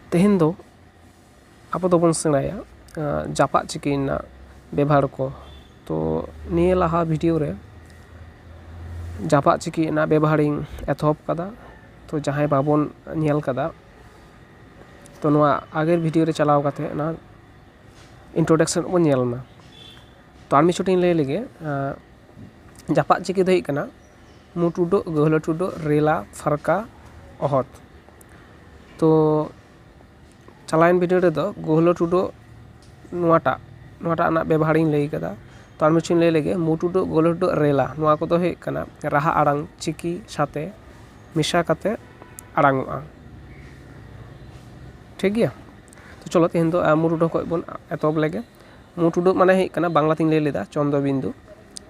ᱛᱮᱦᱮᱧ ᱫᱚ ᱟᱵᱚ ᱫᱚᱵᱚᱱ ᱥᱮᱬᱟᱭᱟ ᱡᱟᱯᱟᱜ ᱪᱤᱠᱤ ᱨᱮᱱᱟᱜ ᱵᱮᱵᱷᱟᱨ ᱠᱚ ᱛᱚ ᱱᱤᱭᱟᱹ ᱞᱟᱦᱟ ᱵᱷᱤᱰᱭᱳ ᱨᱮ ᱡᱟᱯᱟᱜ ᱪᱤᱠᱤ ᱨᱮᱱᱟᱜ ᱵᱮᱵᱷᱟᱨ ᱤᱧ ᱮᱛᱚᱦᱚᱵ ᱟᱠᱟᱫᱟ ᱛᱚ ᱡᱟᱦᱟᱸᱭ ᱵᱟᱵᱚᱱ ᱧᱮᱞ ᱟᱠᱟᱫᱟ ᱛᱚ ᱱᱚᱶᱟ ᱟᱜᱮᱨ ᱵᱷᱤᱰᱭᱳ ᱨᱮ ᱪᱟᱞᱟᱣ ᱠᱟᱛᱮ ᱚᱱᱟ ᱤᱱᱴᱨᱳᱰᱟᱠᱥᱮᱱ ᱵᱚᱱ ᱧᱮᱞ ᱢᱟ ᱛᱚ ᱟᱨ ᱢᱤᱫ ᱪᱷᱚᱴᱤᱧ ᱞᱟᱹᱭ ᱞᱮᱜᱮ ᱡᱟᱯᱟᱜ ᱪᱤᱠᱤ ᱫᱚ ᱦᱩᱭᱩᱜ ᱠᱟᱱᱟ ᱢᱩᱴ ᱩᱰᱟᱹᱜ ᱜᱟᱹᱦᱞᱟᱹᱴ ᱩᱰᱟᱹᱜ ᱨᱮᱞᱟ ᱯᱷᱟᱨᱠᱟ ᱚᱦᱚᱫ ᱛᱚ ᱪᱟᱞᱟᱣᱮᱱ ᱵᱷᱤᱰᱭᱳ ᱨᱮᱫᱚ ᱜᱟᱹᱦᱞᱟᱹᱴ ᱩᱰᱟᱹᱜ ᱱᱚᱣᱟᱴᱟᱜ ᱱᱚᱣᱟᱴᱟᱜ ᱨᱮᱱᱟᱜ ᱵᱮᱵᱷᱟᱨᱤᱧ ᱞᱟᱹᱭ ᱠᱟᱫᱟ ᱛᱚ ᱟᱨ ᱢᱤᱫᱴᱮᱱ ᱞᱟᱹᱭ ᱞᱮᱜᱮ ᱢᱩᱴ ᱩᱰᱟᱹᱜ ᱜᱟᱹᱦᱞᱟᱹᱴ ᱩᱰᱟᱹᱜ ᱨᱮᱞᱟ ᱱᱚᱣᱟ ᱠᱚᱫᱚ ᱦᱩᱭᱩᱜ ᱠᱟᱱᱟ ᱨᱟᱦᱟ ᱟᱲᱟᱝ ᱪᱤᱠᱤ ᱥᱟᱛᱮ ᱢᱮᱥᱟ ᱠᱟᱛᱮ ᱟᱲᱟᱝ ᱚᱜᱼᱟ ᱴᱷᱤᱠ ᱜᱮᱭᱟ ᱛᱚ ᱪᱚᱞᱚ ᱛᱮᱦᱮᱧ ᱫᱚ ᱢᱩᱴ ᱩᱰᱟᱹᱜ ᱠᱷᱚᱱ ᱵᱚᱱ ᱮᱛᱚᱦᱚᱵ ᱞᱮᱜᱮ ᱢᱩᱴ ᱩᱰᱟᱹᱜ ᱢᱟᱱᱮ ᱦᱩᱭᱩᱜ ᱠᱟᱱᱟ ᱵᱟᱝᱞᱟ ᱛᱤᱧ ᱞᱟᱹᱭ ᱞᱮᱫᱟ ᱪᱚᱱᱫᱨᱚ ᱵᱤᱱᱫᱩ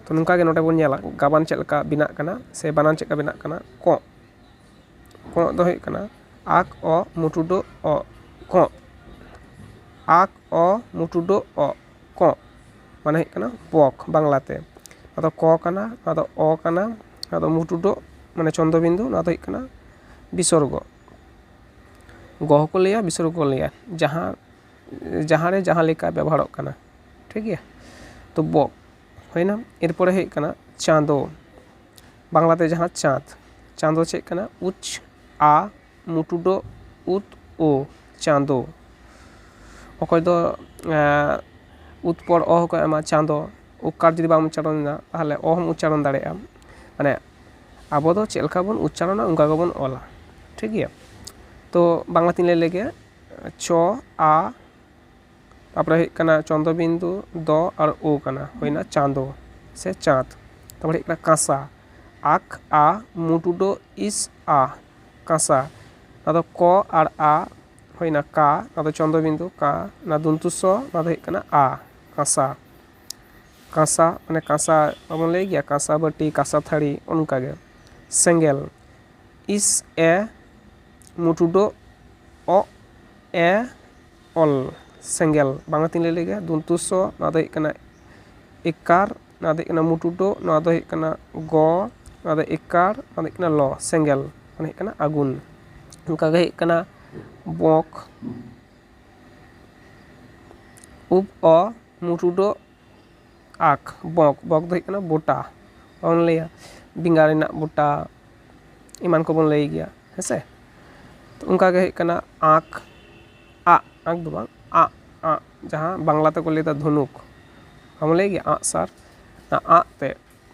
ᱛᱚ ᱱᱚᱝᱠᱟᱜᱮ ᱱᱚᱰᱮ ᱵᱚᱱ ᱧᱮᱞᱟ ᱜᱟᱵᱟᱱ ᱪᱮᱫ ᱞᱮᱠᱟ ᱵᱮᱱᱟᱜ ᱠᱟᱱᱟ ᱥᱮ ᱵᱟᱱᱟᱱ ᱪᱮᱫ ᱞᱮᱠᱟ ᱵᱮᱱᱟᱜ ᱠᱟᱱᱟ ᱠᱚᱸᱜ ᱠᱚᱸᱜ ᱫᱚ ᱦᱩᱭᱩᱜ ᱠᱟᱱᱟ ᱟᱠ ᱚᱜ ᱢᱩᱴᱩ ᱰᱚᱜ ᱚᱜ ᱠᱚᱸᱜ ᱟᱠ ᱚ ᱢᱩᱴᱩ ᱰᱚᱜ ᱚᱜ ᱠᱚᱸᱜ ᱢᱟᱱᱮ ᱦᱩᱭᱩᱜ ᱠᱟᱱᱟ ᱯᱚᱠ ᱵᱟᱝᱞᱟᱛᱮ ᱱᱚᱣᱟ ᱫᱚ ᱠᱚ ᱠᱟᱱᱟ ᱱᱚᱣᱟ ᱫᱚ ᱚ ᱠᱟᱱᱟ ᱱᱚᱣᱟ ᱫᱚ ᱢᱩᱴᱩ ᱰᱚᱜ ᱢᱟᱱᱮ ᱪᱚᱱᱫᱨᱚ ᱵᱤᱱᱫᱩ ᱱᱚᱣᱟ ᱫᱚ ᱦᱩᱭᱩᱜ ᱠᱟᱱᱟ ᱵᱤᱥᱚᱨᱜᱚ ᱜᱚ ᱦᱚᱸᱠᱚ ᱞᱟᱹᱭᱟ ᱵᱤᱥᱚᱨᱜᱚ ᱦᱚᱸᱠᱚ ᱞᱟᱹᱭᱟ ᱡᱟᱦᱟᱸ ᱡᱟᱦᱟᱸ ᱨᱮ ᱡᱟᱦᱟᱸ ᱞᱮᱠᱟ ᱵᱮᱵᱚᱦᱟᱨᱚᱜ ᱠᱟᱱᱟ ᱴᱷᱤᱠ ᱜᱮᱭᱟ ᱛᱚ ᱵᱚ ᱦᱩᱭᱱᱟ ᱮᱨᱯᱚᱨᱮ ᱦᱩᱭᱩᱜ ᱠᱟᱱᱟ ᱪᱟᱸᱫᱚ ᱵᱟᱝᱞᱟ ᱛᱮ ᱡᱟᱦᱟᱸ ᱪᱟᱸᱫᱽ ᱪᱟᱸᱫᱚ ᱪᱮᱫ ᱠᱟᱱᱟ ᱩᱪ ᱟ ᱢᱩᱴᱩᱰᱳ ᱩᱛ ᱳ ᱪᱟᱸᱫᱚ ᱚᱠᱚᱭ ᱫᱚ ᱩᱛ ᱯᱚᱨ ᱚ ᱦᱚᱸᱠᱚ ᱮᱢᱟ ᱪᱟᱸᱫᱚ ᱚᱠᱟᱨ ᱡᱩᱫᱤ ᱵᱟᱢ ᱩᱪᱪᱟᱨᱚᱱ ᱮᱫᱟ ᱛᱟᱦᱚᱞᱮ ᱚ ᱦᱚᱸᱢ ᱩᱪᱪᱟᱨᱚᱱ ᱫᱟᱲᱮᱭᱟᱜᱼᱟ ᱢᱟᱱᱮ ᱟᱵᱚ ᱫᱚ ᱪᱮᱫ ᱞᱮᱠᱟ ᱵᱚᱱ ᱩᱪᱪᱟᱨᱚᱱᱟ ᱚᱱᱠᱟ ᱜᱮᱵᱚᱱ ᱚᱞᱟ ᱴᱷᱤᱠ ᱜᱮᱭᱟ ᱛᱚ ᱵᱟᱝᱞᱟ ᱛᱤᱧ ᱞᱟᱹᱭ ᱞᱮᱜᱮ ᱪᱚ ᱟ ᱛᱟᱯᱚᱨᱮ ᱦᱩᱭᱩᱜ ᱠᱟᱱᱟ ᱪᱚᱱᱫᱨᱚ ᱵᱤᱱᱫᱩ ᱫᱚ ᱟᱨ ᱳ ᱠᱟᱱᱟ ᱦᱩᱭᱱᱟ ᱪᱟᱸᱫᱚ ᱥᱮ ᱪᱟᱸᱫᱽ ᱛᱟᱯᱚᱨᱮ ᱦᱩᱭᱩᱜ ᱠᱟᱱᱟ ᱠᱟᱸᱥᱟ ᱟᱠ ᱟ ᱢᱩ ᱴᱩ ᱰᱚ ᱤᱥ ᱟ ᱠᱟᱸᱥᱟ ᱟᱫᱚ ᱠᱚ ᱟᱨ ᱟ ᱦᱩᱭᱱᱟ ᱠᱟ ᱟᱫᱚ ᱪᱚᱱᱫᱨᱚ ᱵᱤᱱᱫᱩ ᱠᱟ ᱚᱱᱟ ᱫᱚᱱᱛᱩ ᱥᱚ ᱚᱱᱟ ᱫᱚ ᱦᱩᱭᱩᱜ ᱠᱟᱱᱟ ᱟ ᱠᱟᱸᱥᱟ ᱠᱟᱸᱥᱟ ᱢᱟᱱᱮ ᱠᱟᱸᱥᱟ ᱵᱟᱵᱚᱱ ᱞᱟᱹᱭ ᱜᱮᱭᱟ ᱠᱟᱸᱥᱟ ᱵᱟᱹᱴᱤ ᱠᱟᱸᱥᱟ ᱛᱷᱟᱹᱨᱤ ᱚᱱᱠᱟ ᱜᱮ ᱥᱮᱸᱜᱮᱞ ᱤᱥ ᱮ ᱢᱩᱴᱩᱰᱳ ᱚᱜ ᱮ ᱚᱞ ᱥᱮᱸᱜᱮᱞ ᱵᱟᱝᱞᱟ ᱛᱤᱧ ᱞᱟᱹᱭ ᱞᱮᱜᱮ ᱫᱚᱱᱛᱚ ᱥ ᱱᱚᱣᱟ ᱫᱚ ᱦᱩᱭᱩᱜ ᱠᱟᱱᱟ ᱮᱠᱟᱨ ᱱᱚᱣᱟ ᱫᱚ ᱦᱩᱭᱩᱜ ᱠᱟᱱᱟ ᱢᱩᱴᱩᱰᱳ ᱱᱚᱣᱟ ᱫᱚ ᱦᱩᱭᱩᱜ ᱠᱟᱱᱟ ᱜᱚ ᱱᱚᱣᱟ ᱫᱚ ᱮᱠᱟᱨ ᱱᱚᱣᱟ ᱫᱚ ᱦᱩᱭᱩᱜ ᱠᱟᱱᱟ ᱞᱚ ᱥᱮᱸᱜᱮᱞ ᱢᱟᱱᱮ ᱦᱩᱭᱩᱜ ᱠᱟᱱᱟ ᱟᱹᱜᱩᱱ ᱚᱱᱠᱟ ᱜᱮ ᱦᱩᱭᱩᱜ ᱠᱟᱱᱟ ᱵᱚᱠ ᱩᱯ ᱚ ᱢᱩᱴᱩᱰᱳ ᱟᱠ ᱵᱚᱠ ᱵᱚᱠ ᱫᱚ ᱦᱩᱭᱩᱜ ᱠᱟᱱᱟ ᱵᱚᱴᱟ ᱵᱚᱱ ᱞᱟᱹᱭᱟ ᱵᱮᱸᱜᱟᱲ ᱨᱮᱱᱟᱜ ᱵᱚᱴᱟ ᱮᱢᱟᱱ ᱠᱚᱵᱚᱱ ᱞᱟᱹᱭ ᱜᱮᱭᱟ ᱦᱮᱸᱥᱮ ᱛᱚ ᱚᱱᱠᱟ ᱜᱮ ᱦᱩᱭᱩᱜ ᱠᱟᱱᱟ ᱟᱠ ᱟᱜ ᱟᱠ ᱫᱚ ᱵᱟᱝ ᱟᱜ ᱟᱜ ᱡᱟᱦᱟᱸ ᱵᱟᱝᱞᱟ ᱛᱮᱠᱚ ᱞᱟᱹᱭᱫᱟ ᱫᱷᱚᱱᱩᱠ ᱵᱟᱵᱚᱱ ᱞᱟᱹᱭ ᱜᱮᱭᱟ ᱟᱜᱼᱥᱟᱨ ᱚᱱᱟ ᱟᱜ ᱛᱮ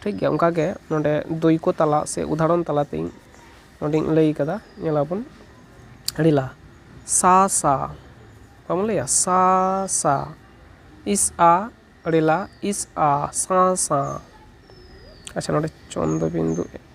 ᱴᱷᱤᱠ ᱜᱮᱭᱟ ᱚᱱᱠᱟ ᱜᱮ ᱱᱚᱰᱮ ᱫᱟᱹᱭᱠᱟᱹ ᱛᱟᱞᱟ ᱥᱮ ᱩᱫᱟᱦᱚᱨᱚᱱ ᱛᱟᱞᱟ ᱛᱤᱧ ᱱᱚᱰᱮᱧ ᱞᱟᱹᱭ ᱟᱠᱟᱫᱟ ᱧᱮᱞ ᱟᱵᱚᱱ ᱟᱹᱰᱤ ᱞᱟᱦᱟ ᱥᱟ ᱥᱟ ᱵᱟᱢ ᱞᱟᱹᱭᱟ ᱥᱟ ᱥᱟ ᱤᱥ ᱟ ᱟᱹᱰᱤ ᱞᱟᱦᱟ ᱤᱥ ᱟ ᱥᱟᱶ ᱥᱟᱶ ᱟᱪᱪᱷᱟ ᱱᱚᱰᱮ ᱪᱚᱱᱫᱚ ᱵᱤᱱᱫᱩ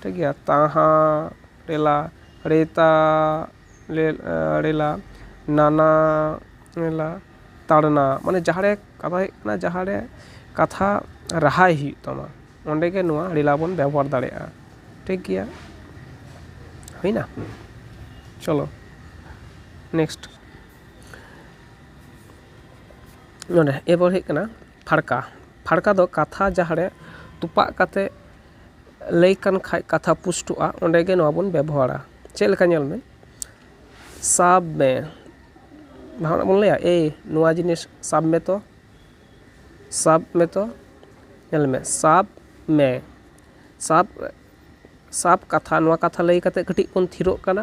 ᱴᱷᱤᱠ ᱜᱮᱭᱟ ᱛᱟᱦᱟ ᱨᱮᱞᱟ ᱨᱮᱛᱟ ᱨᱮᱞᱟ ᱱᱟᱱᱟ ᱨᱮᱞᱟ ᱛᱟᱲᱱᱟ ᱢᱟᱱᱮ ᱡᱟᱦᱟᱸ ᱨᱮ ᱠᱟᱛᱷᱟ ᱦᱩᱭᱩᱜ ᱠᱟᱱᱟ ᱡᱟᱦᱟᱸ ᱨᱮ ᱠᱟᱛᱷᱟ ᱨᱟᱦᱟᱭ ᱦᱩᱭᱩᱜ ᱛᱟᱢᱟ ᱚᱸᱰᱮ ᱜᱮ ᱱᱚᱣᱟ ᱨᱮᱞᱟ ᱵᱚᱱ ᱵᱮᱵᱚᱦᱟᱨ ᱫᱟᱲᱮᱭᱟᱜᱼᱟ ᱴᱷᱤᱠ ᱜᱮᱭᱟ ᱦᱩᱭᱱᱟ ᱪᱚᱞᱚ ᱱᱮᱠᱥᱴ ᱱᱚᱰᱮ ᱮᱨᱯᱚᱨ ᱦᱩᱭᱩᱜ ᱠᱟᱱᱟ ᱯᱷᱟᱲᱠᱟ ᱯᱷᱟᱲᱠᱟ ᱫᱚ ᱠᱟᱛᱷᱟ ᱡᱟᱦᱟᱸ ᱨᱮ ᱛᱚᱯᱟᱜ ᱠᱟᱛᱮᱫ ᱞᱟᱹᱭ ᱠᱟᱱ ᱠᱷᱟᱡ ᱠᱟᱛᱷᱟ ᱯᱩᱥᱴᱟᱹᱜᱼᱟ ᱚᱸᱰᱮ ᱜᱮ ᱱᱚᱣᱟ ᱵᱚᱱ ᱵᱮᱵᱚᱦᱟᱨᱟ ᱪᱮᱫ ᱞᱮᱠᱟ ᱧᱮᱞ ᱢᱮ ᱥᱟᱵ ᱢᱮ ᱡᱟᱦᱟᱱᱟᱜ ᱵᱚᱱ ᱞᱟᱹᱭᱟ ᱮᱭ ᱱᱚᱣᱟ ᱡᱤᱱᱤᱥ ᱥᱟᱵ ᱢᱮᱛᱚ ᱥᱟᱵ ᱢᱮᱛᱚ ᱧᱮᱞ ᱢᱮ ᱥᱟᱵ ᱢᱮ ᱥᱟᱵ ᱥᱟᱵ ᱠᱟᱛᱷᱟ ᱱᱚᱣᱟ ᱠᱟᱛᱷᱟ ᱞᱟᱹᱭ ᱠᱟᱛᱮᱫ ᱠᱟᱹᱴᱤᱡ ᱵᱚᱱ ᱛᱷᱤᱨᱚᱜ ᱠᱟᱱᱟ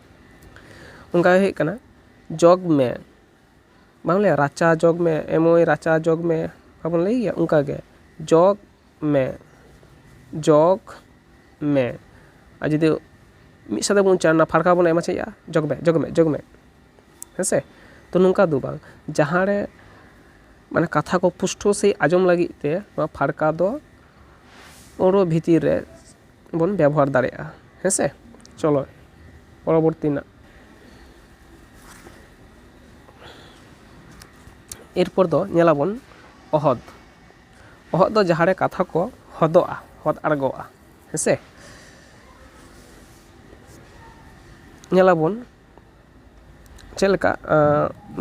ᱚᱱᱠᱟ ᱜᱮ ᱦᱩᱭᱩᱜ ᱠᱟᱱᱟ ᱡᱚᱜᱽ ᱢᱮ ᱵᱟᱢ ᱞᱟᱹᱭᱟ ᱨᱟᱪᱟ ᱡᱚᱜᱽ ᱢᱮ ᱮ ᱢᱟᱹᱭ ᱨᱟᱪᱟ ᱡᱚᱜᱽ ᱢᱮ ᱵᱟᱵᱚᱱ ᱞᱟᱹᱭ ᱜᱮᱭᱟ ᱚᱱᱠᱟ ᱜᱮ ᱡᱚᱜᱽ ᱢᱮ ᱡᱚᱜᱽ ᱢᱮ ᱟᱨ ᱡᱩᱫᱤ ᱢᱤᱫ ᱥᱟᱶᱛᱮ ᱵᱚᱱ ᱩᱪᱪᱟᱨᱚᱱᱟ ᱯᱷᱟᱲᱠᱟ ᱵᱚᱱ ᱮᱢᱟ ᱪᱮᱫ ᱦᱩᱭᱩᱜᱼᱟ ᱡᱚᱜᱽ ᱢᱮ ᱡᱚᱜᱽ ᱢᱮ ᱡᱚᱜᱽ ᱢᱮ ᱦᱮᱸ ᱥᱮ ᱛᱚ ᱱᱚᱝᱠᱟ ᱫᱚ ᱵᱟᱝ ᱡᱟᱦᱟᱸ ᱨᱮ ᱢᱟᱱᱮ ᱠᱟᱛᱷᱟ ᱠᱚ ᱯᱩᱥᱴᱟᱹᱣ ᱥᱟᱺᱦᱤᱡ ᱟᱸᱡᱚᱢ ᱞᱟᱹᱜᱤᱫ ᱛᱮ ᱱᱚᱣᱟ ᱯᱷᱟᱲᱠᱟ ᱫᱚ ᱟᱹᱲᱟᱹ ᱵᱷᱤᱛᱤᱨ ᱨᱮ ᱵᱚᱱ ᱵᱮᱵᱚᱦᱟᱨ ᱫᱟᱲᱮᱭᱟᱜᱼᱟ ᱦᱮᱸ ᱥᱮ ᱪᱚᱞᱚ ᱯᱚᱨᱚᱵᱚᱨᱛᱤ ᱨᱮᱱᱟᱜ ᱮᱨᱯᱚᱨ ᱫᱚ ᱧᱮᱞ ᱟᱵᱚᱱ ᱚᱦᱚᱫ ᱚᱦᱚᱫ ᱫᱚ ᱡᱟᱦᱟᱸ ᱨᱮ ᱠᱟᱛᱷᱟ ᱠᱚ ᱦᱚᱫᱚᱜᱼᱟ ᱦᱚᱫ ᱟᱬᱜᱚᱜᱼᱟ ᱦᱮᱸ ᱥᱮ ᱧᱮᱞ ᱟᱵᱚᱱ ᱪᱮᱫ ᱞᱮᱠᱟ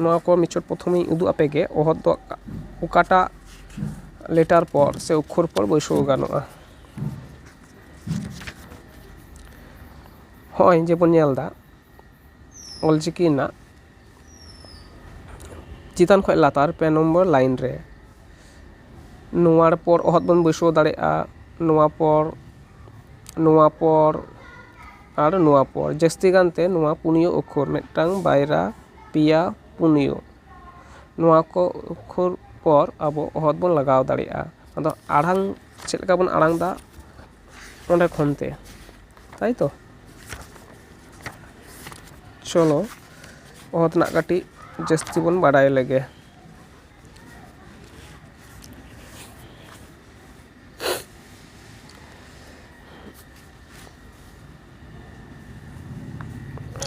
ᱱᱚᱣᱟ ᱠᱚ ᱢᱮᱪᱚᱫ ᱯᱨᱚᱛᱷᱚᱢ ᱤᱧ ᱩᱫᱩᱜ ᱟᱯᱮ ᱜᱮ ᱚᱦᱚᱫ ᱫᱚ ᱚᱠᱟᱴᱟᱜ ᱞᱮᱴᱟᱨ ᱯᱚᱨ ᱥᱮ ᱚᱠᱠᱷᱚᱨ ᱯᱚᱨ ᱵᱟᱹᱭᱥᱟᱹᱣ ᱜᱟᱱᱚᱜᱼᱟ ᱦᱚᱸᱜᱼᱚᱭ ᱡᱮ ᱵᱚᱱ ᱧᱮᱞ ᱮᱫᱟ ᱚᱞ ᱪᱤᱠᱤ ᱨᱮᱱᱟᱜ ᱪᱮᱛᱟᱱ ᱠᱷᱚᱱ ᱞᱟᱛᱟᱨ ᱯᱮ ᱱᱚᱢᱵᱚᱨ ᱞᱟᱭᱤᱱ ᱨᱮ ᱱᱚᱣᱟ ᱯᱚᱨ ᱚᱦᱚᱫ ᱵᱚᱱ ᱵᱟᱹᱭᱥᱟᱹᱣ ᱫᱟᱲᱮᱭᱟᱜᱼᱟ ᱱᱚᱣᱟ ᱯᱚᱨ ᱱᱚᱣᱟ ᱯᱚᱨ ᱟᱨ ᱱᱚᱣᱟ ᱯᱚᱨ ᱡᱟᱹᱥᱛᱤ ᱜᱟᱱ ᱛᱮ ᱱᱚᱣᱟ ᱯᱩᱱᱭᱟᱹ ᱚᱠᱷᱚᱨ ᱢᱤᱫᱴᱟᱝ ᱵᱟᱭᱨᱟ ᱯᱮᱭᱟ ᱯᱩᱱᱭᱟᱹ ᱱᱚᱣᱟ ᱠᱚ ᱚᱠᱷᱚᱨ ᱯᱚᱨ ᱟᱵᱚ ᱚᱦᱚᱫ ᱵᱚᱱ ᱞᱟᱜᱟᱣ ᱫᱟᱲᱮᱭᱟᱜᱼᱟ ᱟᱫᱚ ᱟᱲᱟᱝ ᱪᱮᱫ ᱞᱮᱠᱟ ᱵᱚᱱ ᱟᱲᱟᱝ ᱮᱫᱟ ᱚᱸᱰᱮ ᱠᱷᱚᱱ ᱛᱮ ᱛᱟᱭ ᱛᱚ ᱪᱚᱞᱚ ᱚᱦᱚᱫ ᱨᱮᱱᱟᱜ ᱠᱟᱹᱴᱤᱡ ᱡᱟᱹᱥᱛᱤ ᱵᱚᱱ ᱵᱟᱰᱟᱭ ᱞᱮᱜᱮ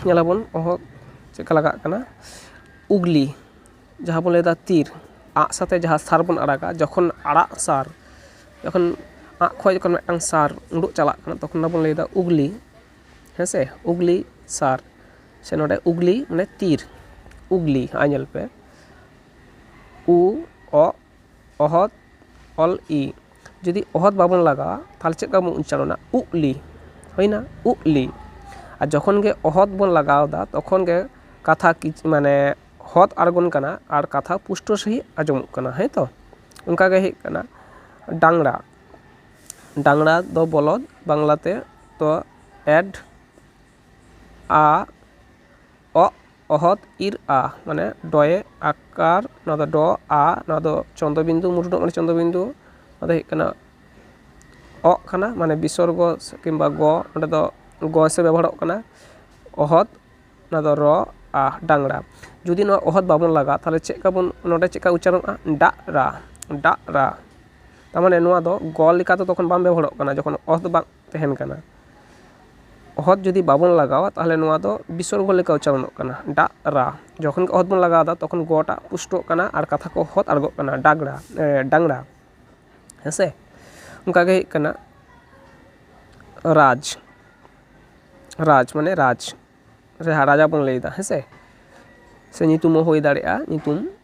ᱧᱮᱞᱟᱵᱚᱱ ᱚᱦᱚᱫ ᱪᱮᱫ ᱞᱮᱠᱟ ᱞᱟᱜᱟᱜ ᱠᱟᱱᱟ ᱩᱜᱽᱞᱤ ᱡᱟᱦᱟᱸ ᱵᱚᱱ ᱞᱟᱹᱭᱫᱟ ᱛᱤᱨ ᱟᱜ ᱥᱟᱛᱮ ᱡᱟᱦᱟᱸ ᱥᱟᱨ ᱵᱚᱱ ᱟᱲᱟᱜᱟ ᱡᱚᱠᱷᱚᱱ ᱟᱲᱟᱜ ᱥᱟᱨ ᱡᱚᱠᱷᱚᱱ ᱟᱜ ᱠᱷᱚᱡ ᱡᱚᱠᱷᱚᱱ ᱢᱤᱫᱴᱟᱝ ᱥᱟᱨ ᱩᱰᱩᱠ ᱪᱟᱞᱟᱜ ᱠᱟᱱᱟ ᱛᱚᱠᱷᱚᱱ ᱫᱚᱵᱚᱱ ᱞᱟᱹᱭᱫᱟ ᱩᱜᱽᱞᱤ ᱦᱮᱸᱥᱮ ᱩᱜᱽᱞᱤ ᱥᱟᱨ ᱥᱮ ᱱᱚᱰᱮ ᱩᱜᱽᱞᱤ ᱢᱟᱱᱮ ᱛᱤᱨ ᱩᱜᱽᱞᱤ ᱟᱨ ᱧᱮᱞ ᱯᱮ ᱩ ᱚᱜ ᱚᱦᱚᱫ ᱚᱞ ᱤ ᱡᱩᱫᱤ ᱚᱦᱚᱫ ᱵᱟᱵᱚᱱ ᱞᱟᱜᱟᱣᱟ ᱛᱟᱦᱚᱞᱮ ᱪᱮᱫ ᱞᱮᱠᱟ ᱵᱚᱱ ᱩᱪᱪᱟᱨᱚᱱᱟ ᱩᱜ ᱞᱤ ᱦᱩᱭᱮᱱᱟ ᱩᱜ ᱞᱤ ᱟᱨ ᱡᱚᱠᱷᱚᱱ ᱜᱮ ᱚᱦᱚᱫ ᱵᱚᱱ ᱞᱟᱜᱟᱣ ᱮᱫᱟ ᱛᱚᱠᱷᱚᱱ ᱜᱮ ᱠᱟᱛᱷᱟ ᱠᱤᱪᱷᱩ ᱢᱟᱱᱮ ᱦᱚᱫ ᱟᱬᱜᱚᱱ ᱠᱟᱱᱟ ᱟᱨ ᱠᱟᱛᱷᱟ ᱯᱩᱥᱴᱟᱹᱣ ᱥᱟᱺᱦᱤᱡ ᱟᱸᱡᱚᱢᱚᱜ ᱠᱟᱱᱟ ᱦᱮᱸ ᱛᱚ ᱚᱱᱠᱟ ᱜᱮ ᱦᱩᱭᱩᱜ ᱠᱟᱱᱟ ᱰᱟᱝᱨᱟ ᱰᱟᱝᱨᱟ ᱫᱚ ᱵᱚᱞᱚᱫ ᱵᱟᱝᱞᱟᱛᱮ ᱫᱚ ᱮᱰ ᱟ ᱚᱜ ᱚᱦᱚᱫ ᱤᱨ ᱟ ᱢᱟᱱᱮ ᱰᱚᱭᱮ ᱟᱠᱟᱨ ᱱᱚᱣᱟ ᱫᱚ ᱰᱚ ᱟ ᱱᱚᱣᱟ ᱫᱚ ᱪᱚᱱᱫᱨᱚ ᱵᱤᱱᱫᱩ ᱢᱩᱨᱩ ᱫᱚ ᱢᱟᱱᱮ ᱪᱚᱱᱫᱨᱚ ᱵᱤᱱᱫᱩ ᱱᱚᱣᱟ ᱫᱚ ᱦᱩᱭᱩᱜ ᱠᱟᱱᱟ ᱚᱜ ᱠᱟᱱᱟ ᱢᱟᱱᱮ ᱵᱤᱥᱚᱨᱜᱚ ᱠᱤᱢᱵᱟ ᱜᱚ ᱚᱸᱰᱮ ᱫᱚ ᱜᱚ ᱦᱤᱥᱟᱹᱵᱽ ᱵᱮᱵᱚᱦᱟᱨᱚᱜ ᱠᱟᱱᱟ ᱚᱦᱚᱫ ᱱᱚᱣᱟ ᱫᱚ ᱨᱚ ᱟ ᱰᱟᱝᱨᱟ ᱡᱩᱫᱤ ᱱᱚᱣᱟ ᱚᱦᱚᱫ ᱵᱟᱵᱚᱱ ᱞᱟᱜᱟᱣᱟ ᱛᱟᱦᱚᱞᱮ ᱪᱮᱫ ᱞᱮᱠᱟ ᱵᱚᱱ ᱱᱚᱰᱮ ᱪᱮᱫ ᱞᱮᱠᱟ ᱩᱪᱪᱟᱨᱚᱱᱚᱜᱼᱟ ᱰᱟᱜ ᱨᱟ ᱰᱟᱜ ᱨᱟ ᱛᱟᱨᱢᱟᱱᱮ ᱱᱚᱣᱟ ᱫᱚ ᱜᱚ ᱞᱮᱠᱟ ᱫᱚ ᱛᱚᱠᱷᱚᱱ ᱵᱟᱝ ᱵᱮᱵᱚᱦᱟᱨᱚᱜ ᱠᱟᱱᱟ ᱡᱚᱠᱷᱚᱱ ᱚᱦᱚᱫ ᱵᱟᱝ ᱛᱟᱦᱮᱱ ᱠᱟᱱᱟ ᱚᱦᱚᱫ ᱡᱩᱫᱤ ᱵᱟᱵᱚᱱ ᱞᱟᱜᱟᱣᱟ ᱛᱟᱦᱚᱞᱮ ᱱᱚᱣᱟ ᱫᱚ ᱵᱤᱥᱚᱨᱜᱚ ᱞᱮᱠᱟ ᱩᱪᱪᱟᱨᱚᱱᱚᱜ ᱠᱟᱱᱟ ᱰᱟᱜ ᱨᱟ ᱡᱚᱠᱷᱚᱱ ᱜᱮ ᱚᱦᱚᱫ ᱵᱚᱱ ᱞᱟᱜᱟᱣ ᱮᱫᱟ ᱛᱚᱠᱷᱚᱱ ᱜᱚ ᱴᱟᱜ ᱯᱩᱥᱴᱟᱹᱜ ᱠᱟᱱᱟ ᱟᱨ ᱠᱟᱛᱷᱟ ᱠᱚ ᱦᱚᱫ ᱟᱬᱜᱚᱜ ᱠᱟᱱᱟ ᱰᱟᱜᱽᱲᱟ ᱰᱟᱝᱨᱟ ᱦᱮᱸ ᱥᱮ ᱚᱱᱠᱟ ᱜᱮ ᱦᱩᱭᱩᱜ ᱠᱟᱱᱟ ᱨᱟᱡᱽ ᱨᱟᱡᱽ ᱢᱟᱱᱮ ᱨᱟᱡᱽ ᱡᱟᱦᱟᱸ ᱨᱟᱡᱟ ᱵᱚᱱ ᱞᱟᱹᱭᱫᱟ ᱦᱮᱸ ᱥᱮ ᱥᱮ ᱧᱩᱛᱩᱢ ᱦᱚᱸ ᱦᱩᱭ ᱫᱟᱲᱮᱭᱟᱜᱼᱟ ᱧᱩᱛᱩᱢ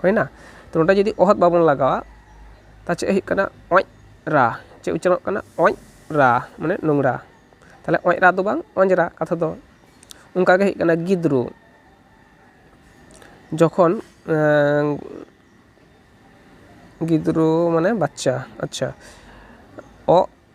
ᱦᱩᱭᱱᱟ ᱛᱚ ᱱᱚᱸᱰᱮ ᱡᱩᱫᱤ ᱚᱦᱚᱫ ᱵᱟᱵᱚᱱ ᱞᱟᱜᱟᱣᱟ ᱛᱟᱦᱚᱞᱮ ᱪᱮᱫ ᱦᱩᱭᱩᱜ ᱠᱟᱱᱟ ᱚᱸᱡ ᱨᱟ ᱪᱮᱫ ᱩᱪᱪᱟᱨᱚᱱᱚᱜ ᱠᱟᱱᱟ ᱚᱸᱡ ᱨᱟ ᱢᱟᱱᱮ ᱱᱳᱝᱨᱟ ᱛᱟᱦᱚᱞᱮ ᱚᱸᱡ ᱨᱟ ᱫᱚ ᱵᱟᱝ ᱚᱸᱡᱽᱨᱟ ᱠᱟᱛᱷᱟ ᱫᱚ ᱚᱱᱠᱟ ᱜᱮ ᱦᱩᱭᱩᱜ ᱠᱟᱱᱟ ᱜᱤᱫᱽᱨᱳ ᱡᱚᱠᱷᱚᱱ ᱜᱤᱫᱽᱨᱳ ᱢᱟᱱᱮ ᱵᱟᱪᱪᱟ ᱟᱪᱪᱷᱟ ᱚᱜ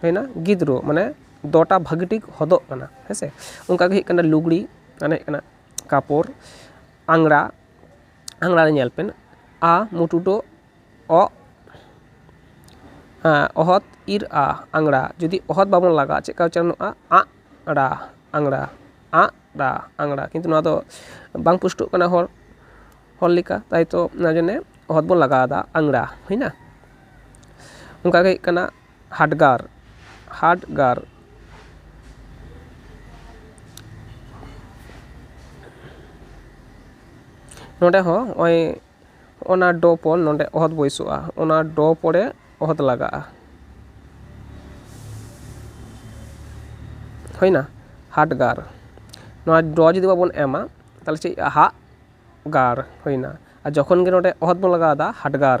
ᱦᱩᱭᱱᱟ ᱜᱤᱫᱽ ᱨᱳᱜᱽ ᱢᱟᱱᱮ ᱫᱚ ᱴᱟ ᱵᱷᱟᱹᱜᱤ ᱴᱷᱤᱠ ᱦᱚᱫᱚᱜ ᱠᱟᱱᱟ ᱦᱮᱸ ᱥᱮ ᱚᱱᱠᱟ ᱜᱮ ᱦᱩᱭᱩᱜ ᱠᱟᱱᱟ ᱞᱩᱜᱽᱲᱤᱡ ᱢᱟᱱᱮ ᱦᱩᱭᱩᱜ ᱠᱟᱱᱟ ᱠᱟᱯᱚᱲ ᱟᱝᱨᱟ ᱟᱝᱨᱟ ᱨᱮ ᱧᱮᱞ ᱵᱮᱱ ᱟ ᱢᱩᱴᱩ ᱰᱚ ᱚ ᱚᱦᱚᱫ ᱤᱨ ᱟ ᱟᱝᱨᱟ ᱡᱩᱫᱤ ᱚᱦᱚᱫ ᱵᱟᱵᱚᱱ ᱞᱟᱜᱟᱣᱟ ᱪᱮᱫᱠᱟ ᱩᱪᱪᱟᱨᱚᱱᱚᱜᱼᱟ ᱟᱜ ᱨᱟ ᱟᱝᱨᱟ ᱟᱜ ᱨᱟ ᱟᱝᱨᱟ ᱠᱤᱱᱛᱩ ᱱᱚᱣᱟ ᱫᱚ ᱵᱟᱝ ᱯᱩᱥᱴᱟᱹᱜ ᱠᱟᱱᱟ ᱦᱚᱲ ᱦᱚᱲ ᱞᱮᱠᱟ ᱛᱟᱭᱛᱚ ᱚᱱᱟ ᱡᱚᱱᱱᱮ ᱚᱦᱚᱫ ᱵᱚᱱ ᱞᱟᱜᱟᱣᱫᱟ ᱟᱝᱨᱟ ᱦᱩᱭᱱᱟ ᱚᱱᱠᱟ ᱜᱮ ᱦᱩᱭᱩᱜ ᱠᱟᱱᱟ ᱦᱟᱰᱜᱟᱨ ᱦᱟᱰᱜᱟᱨ ᱱᱚᱸᱰᱮ ᱦᱚᱸ ᱱᱚᱜᱼᱚᱭ ᱚᱱᱟ ᱰᱚ ᱯᱚᱨ ᱱᱚᱸᱰᱮ ᱚᱦᱚᱫ ᱵᱟᱹᱭᱥᱟᱹᱜᱼᱟ ᱚᱱᱟ ᱰᱚ ᱯᱚᱨᱮ ᱚᱦᱚᱫ ᱞᱟᱜᱟᱜᱼᱟ ᱦᱩᱭᱮᱱᱟ ᱦᱟᱰᱜᱟᱨ ᱱᱚᱣᱟ ᱰᱚ ᱡᱩᱫᱤ ᱵᱟᱵᱚᱱ ᱮᱢᱟ ᱛᱟᱦᱚᱞᱮ ᱪᱮᱫ ᱦᱩᱭᱩᱜᱼᱟ ᱦᱟᱜ ᱜᱟᱨ ᱦᱩᱭᱮᱱᱟ ᱟᱨ ᱡᱚᱠᱷᱚᱱ ᱜᱮ ᱱᱚᱸᱰᱮ ᱚᱦᱚᱫ ᱵᱚᱱ ᱞᱟᱜᱟᱣᱮᱫᱟ ᱦᱟᱰᱜᱟᱨ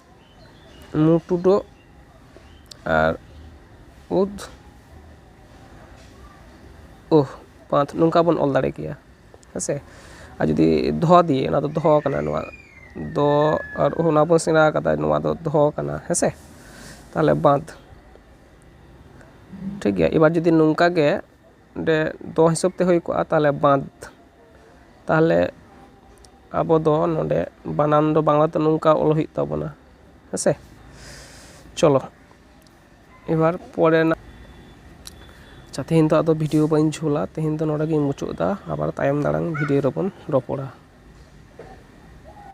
ᱢᱩ ᱴᱩᱰᱟᱹᱜ ᱟᱨ ᱩᱫ ᱩᱦ ᱯᱟᱸᱛ ᱱᱚᱝᱠᱟ ᱵᱚᱱ ᱚᱞ ᱫᱟᱲᱮ ᱠᱮᱭᱟ ᱦᱮᱸ ᱥᱮ ᱟᱨ ᱡᱩᱫᱤ ᱫᱷᱚ ᱫᱤᱭᱮ ᱚᱱᱟ ᱫᱚ ᱫᱷᱚ ᱠᱟᱱᱟ ᱱᱚᱣᱟ ᱫᱚ ᱟᱨ ᱩᱦ ᱚᱱᱟ ᱵᱚᱱ ᱥᱮᱬᱟ ᱠᱟᱫᱟ ᱱᱚᱣᱟ ᱫᱚ ᱫᱷᱚ ᱠᱟᱱᱟ ᱦᱮᱸ ᱥᱮ ᱛᱟᱦᱚᱞᱮ ᱵᱟᱸᱫᱽ ᱴᱷᱤᱠ ᱜᱮᱭᱟ ᱮᱵᱟᱨ ᱡᱩᱫᱤ ᱱᱚᱝᱠᱟ ᱜᱮ ᱚᱸᱰᱮ ᱫᱚ ᱦᱤᱥᱟᱹᱵ ᱛᱮ ᱦᱩᱭ ᱠᱚᱜᱼᱟ ᱛᱟᱦᱚᱞᱮ ᱵᱟᱸᱫᱽ ᱛᱟᱦᱚᱞᱮ ᱟᱵᱚ ᱫᱚ ᱱᱚᱰᱮ ᱵᱟᱱᱟᱱ ᱫᱚ ᱵᱟᱝᱞᱟ ᱛᱮ ᱱᱚᱝᱠᱟ ᱚᱞ ᱦᱩᱭᱩᱜ ᱛᱟᱵᱚᱱᱟ ᱦᱮᱸ ᱥᱮ ᱪᱚᱞᱚ ᱮᱵᱟᱨ ᱯᱚᱨᱮᱱᱟᱜ ᱟᱪᱪᱷᱟ ᱛᱮᱦᱮᱧ ᱫᱚ ᱟᱫᱚ ᱵᱷᱤᱰᱤᱭᱳ ᱵᱟᱹᱧ ᱡᱷᱳᱞᱟ ᱛᱮᱦᱮᱧ ᱫᱚ ᱱᱚᱰᱮ ᱜᱤᱧ ᱢᱩᱪᱟᱹᱫ ᱮᱫᱟ ᱟᱵᱟᱨ ᱛᱟᱭᱚᱢ ᱫᱟᱨᱟᱢ ᱵᱷᱤᱰᱤᱭᱳ ᱨᱮᱵᱚᱱ ᱨᱚᱯᱚᱲᱟ